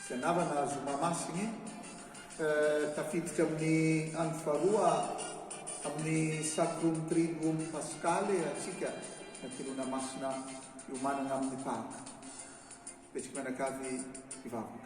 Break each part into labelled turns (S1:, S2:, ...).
S1: Fianarana azo mamasigny tafiditra amin'ny andro faharoa amin'ny Sacrum Triduum Paschale antsika Anteloana Masina iomanana amin'ny Paka. Betsaka mianakavy hivavaka.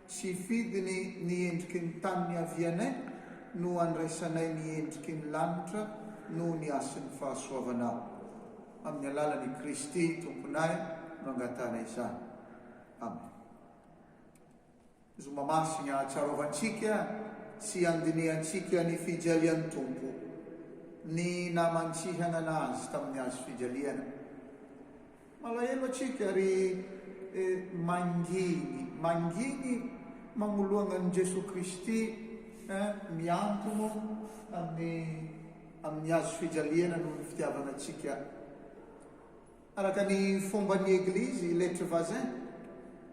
S1: Tsy fidiny ny endriky ny tany niavianay no andraisanay ny endriky ny lanitra noho ny hasin'ny fahasoavanao. Amin'ny alalan'i Kristy Tomponay no angatahanay izany. Amen. Zoma Masina ahatsiarovantsika sy andinihantsika ny fijalian'ny Tompo ny namantsihana Azy tamin'ny hazo fijaliana. Malahelo atsika ry manginy manginy magnoloagna an'i Jesoa Kristy eh, miantono amin'ny amin'ny Hazo fijaliana noho ny fitiavana antsika. Araka ny fomban'ny Eglizy Lettres Vazin,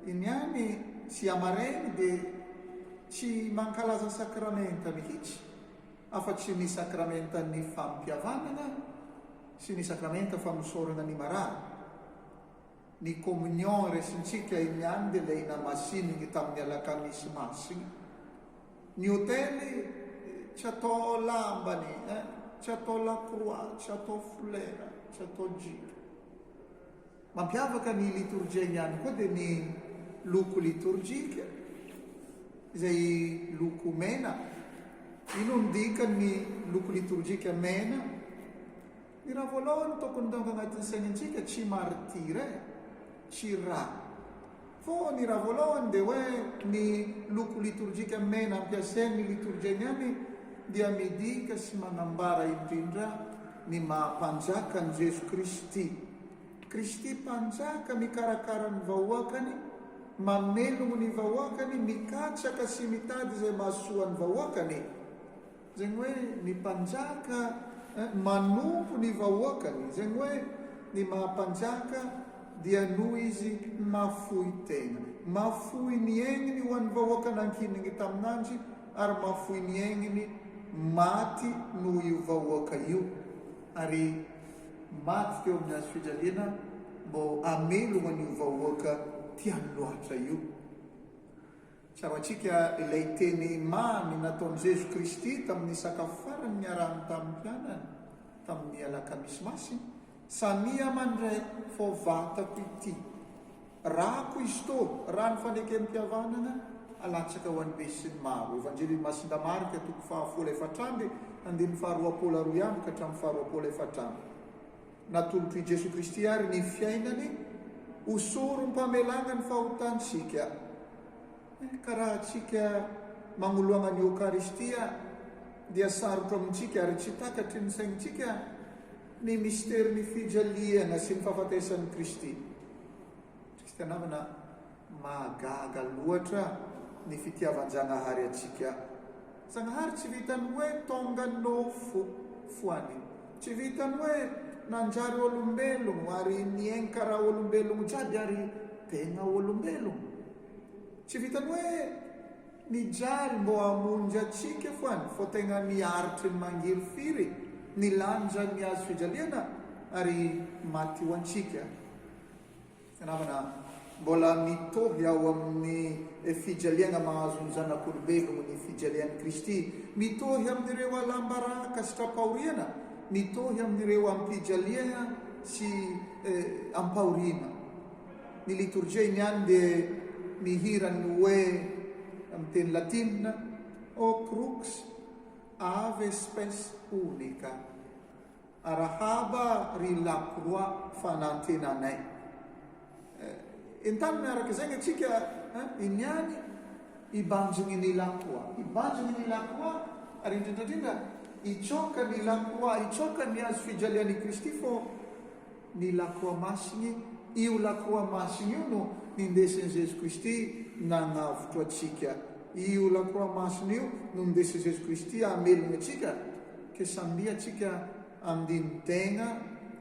S1: i Niany sy i Amarainy dia tsy mankalaza sakramenta mihitsy afa-tsy ny sakramentan'ny fampihavanana, sy ny sakramenta famosorana ny marary, ny communion resintsika iny ihany dia ilay namasininy tamin'ny alakamisy masina, ny hotely tsy atao lambany eh, tsy atao lacroix, tsy atao folera, tsy atao jipo. Mampiavaka ny litorjiany ihany koa dia ny loko litorjika izay loko mena. Inona no dikan'ny loko litorjika mena? Ny raha voalohany tokony tonga agnatin'ny saignintsika tsy martyr e, tsy rà. Fô ny raha vôlôhany dia hoe ny loko litorjika mena ampiasain' ny litorjia niany dia midika sy manambara indrindra ny maha-Mpanjaka an'i Jeso Kristy. Kristy Mpanjaka mikarakara ny vahoakany, mamelogno ny vahoakany, mikatsaka sy mitady izay mahasoa ny vahoakany. Izay ny hoe ny mpanjaka manompo ny vahoakany, izay ny hoe ny maha mpanjaka dia noho izy mahafoy tena, mahafoy ny aigny ho an'ny vahoaka nankinigny taminanjy ary mahafoy ny aigniny maty noho io vahoaka io ary maty teo amin'ny hazo fijaliana mbô hamelo an'io vahoaka tiany loatra io. Tsaroantsika ilay teny mamy nataon'i Jeso Kristy tamin'ny sakafo farany niarahany tamin'ny mpianany tamin'ny Alakamisy Masina, Samia mandray fao vatako ity, rako izy tô, rano fanekempihavanana alatsaka ho an'ny be sy ny maro. Evanjelin'i Masinda Marka, toko faha folo efatra amby, andininy faha roapolo aroa amby ka hatramin'ny faha roapolo efatra amby. Natolotr'i Jesoa Kristy àry ny fiainany ho sorom-pamelana ny fahotantsika. Ka raha tsika magnoloana ny Eokaristia dia sarotra amintsika ary tsy takatry ny saintsika ny misterin'ny fijaliana sy ny fahafatesan'i Kristy. Tsika namana mahagaga loatra ny fitiavan-Jagnahary antsika. Zagnahary tsy vitan'ny hoe tonga no fo foany. Tsy vitan'ny hoe nanjary olombelogno ary nienka raha olombelogno jiaby ary tegna olombelogno. Tsy vitan'ny hoe nijaly mbô hamonjy antsika foany fô tegna niaritry ny mangirifiry ny lanjan'ny hazo fijaliana ary maty ho antsika. Namana, mbola mitovy ao amin'ny fijaliana mahazo ny zanak'olombelogno ny fijalian'i Kristy. Mitohy amin'ireo alam-baraka sy tra-pahoriana, mitohy amin'ireo am-pijaliana sy am-pahoriana. Ny litorjia iny ihany dia mihira ny hoe amin'ny teny latina, O crux, ave spes unica. Arahaba ry lakroa fanantenanay. Eh, entanina araka izay ny antsika eh, iny ihany hibanjiny ny lakroa. Hibanjiny ny lakroa ary indrindraindrindra hitsoaka ny lakroa, hitsoaka ny hazo fijalian'i Kristy fô ny lakroa masiny, io lakroa masiny io no nindesin'i Jesoa Kristy nanavotra antsika, io lakroa masiny io no nindesin'i Jesoa Kristy hamelona antsika, ka samia tsika andini tegna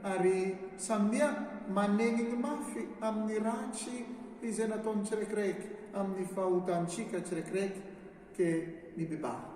S1: ary samia manenigny mafy amin'ny ratsy izay nataony tsiraikiraiky, amin'ny fahotantsika tsiraikiraiky, ka mibebaha.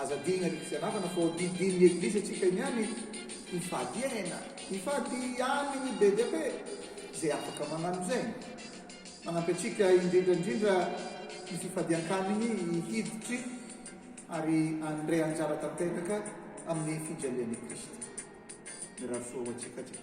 S1: Aza adino ery fianarana fa hodidin ny eglise atsika niany hifady aina hifady any ny be dia be zay afaka manano zay manampy atsika indrindra indrindra ny fifadiankaniny hiditry ary anndray anjara tanteraka aminy fijalian i kristy mirary soa ho atsika atsika.